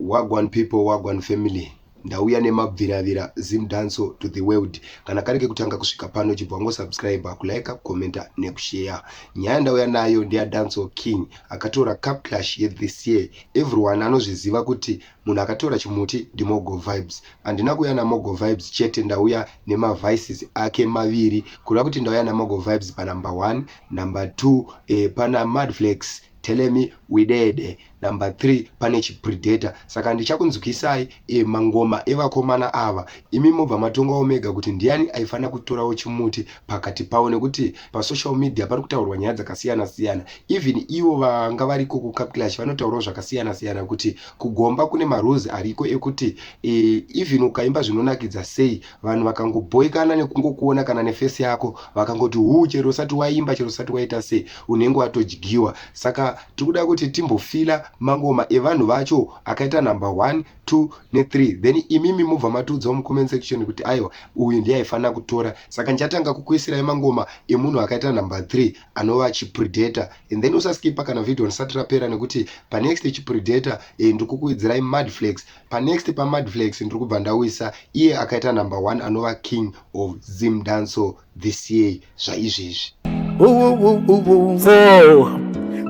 Wagwan people wagwan family ndauya nemabviravira zim danso to the world kana kari kekutanga kusvika pano chibva wangosubscribe kulike kucomenta nekusheya nyaya ndauya nayo ndeyadanso king akatora cup clash yethis year everyone anozviziva kuti munhu akatora chimuti ndimogo vibes handina kuuya namogo vibes chete ndauya nemavices ake maviri kureva kuti ndauya namogo vibes panumber one number two eh, pana madflex Tell me widede. Number three pane chi predator saka ndichakunzwisai e, mangoma evakomana ava imi mobva matongawo mega kuti ndiani aifanira kutorawo chimuti pakati pavo nekuti pa social media pari kutaurwa nyaya dzakasiyana siyana even ivo vanga variko ku cup clash vanotaurawo zvakasiyana siyana kuti kugomba kune marules ariko ekuti e, even ukaimba zvinonakidza sei vanhu vakangobhoikana nekungokuona kana nefesi yako vakangoti huu chero usati waimba chero usati waita sei unenge watodyiwa saka tiri kuda kuti timbofila mangoma evanhu vacho akaita number one two nethree then imimi mobva matiudzawo mucomment section kuti aiwa uyu ndiye aifanira kutora saka ndichatanga kukuisirai mangoma emunhu akaita number three anova chipredator and then usaskipa kana video ndisati rapera nekuti panext chipredator eh, ndikukuidzirai madflex panext pamadflex ndiri kubva ndawisa iye akaita number one anova king of zim danso this year zvaizvezvi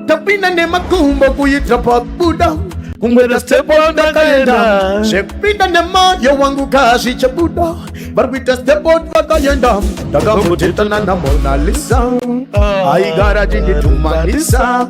tapinda nemakumbo kuita pabuda kumwera stepo ndakaenda zvekupinda nemayo wangu kazi chebuda vari kuita stepo vakayenda ndakambotitana namonalisa aigara tinditumanisa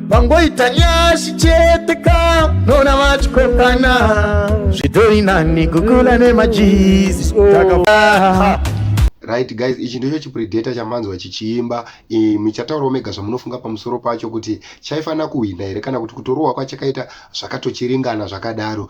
vangoita nyashi chete ka nona vachikokana zvitori nani kukula nemajizi takafaa right guys ichi ndicho chipredator chamanzwa chichiimba e, michataurawo mega zvamunofunga pamusoro pacho kuti chaifanira kuhwina here kana kuti kutorohwa kwachakaita zvakatochiringana zvakadaro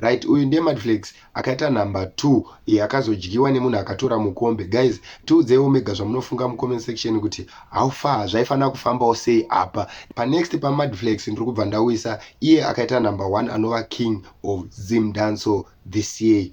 right uyu ndiye madflex akaita number two yakazodyiwa nemunhu akatora mukombe guys tiudzeiwo mega zvamunofunga mucomment section kuti how far zvaifanira kufambawo sei apa panext pamadflex ndiri kubva ndauyisa iye akaita number one anova king of zim danso this year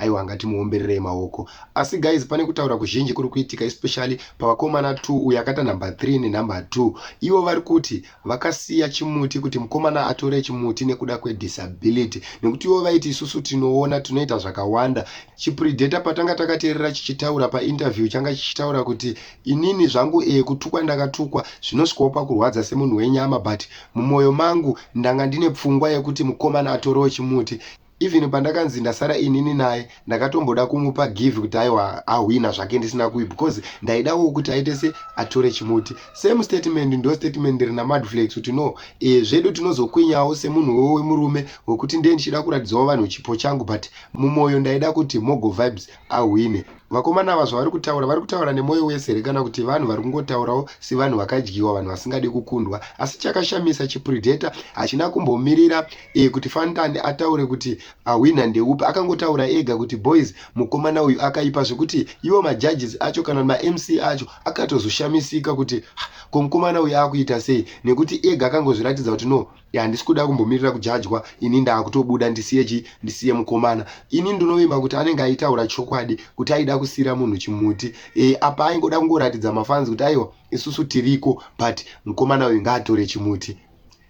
aiwa ngatimuombererei maoko asi guys pane kutaura kuzhinji kuri kuitika especially pavakomana 2 uyo akata number 3 nenumber 2 ivo vari kuti vakasiya chimuti kuti mukomana atore chimuti nekuda kwedisability nekuti ivo vaiti isusu tinoona tinoita zvakawanda chipredata patanga takateerera chichitaura painterview changa chichitaura kuti inini zvangu e kutukwa ndakatukwa zvinosvikawo pakurwadza semunhu wenyama but mumwoyo mangu ndanga ndine pfungwa yekuti mukomana atorewo chimuti even pandakanzi ndasara inini naye ndakatomboda kumupa give kuti aiwa ahwina zvake ndisina kuyi because ndaidawo kuti aite se atore chimuti same statement ndo statement rina madflex kuti no e, zvedu tinozokwinyawo semunhu wewo wemurume wekuti ndiye ndichida kuratidzawo vanhu chipo changu but mumwoyo ndaida kuti mogo vibes ahwine vakomana ava zvavari kutaura vari kutaura nemwoyo wese here kana kuti vanhu vari kungotaurawo sevanhu vakadyiwa vanhu vasingadi kukundwa asi chakashamisa chipredator hachina kumbomirira e, kuti fantani ataure kuti ahwina ah, ndeupi akangotaura ega kuti boys mukomana uyu akaipa zvekuti ivo majudges acho kana mamc acho akatozoshamisika kuti ah, ko mukomana uyu akuita sei nekuti ega akangozviratidza kuti no handisi kuda kumbomirira kujajwa ini ndaakutobuda ndisiye chi ndisiye mukomana ini ndinovimba kuti anenge aitaura chokwadi kuti aida kusiyira munhu chimuti e, apa aingoda kungoratidza mafanzi kuti aiwa isusu tiriko but mukomana uyu ngaatore chimuti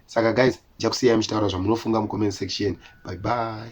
saka guys ndichakusiyai muchitaura zvamunofunga mucomment section bye bye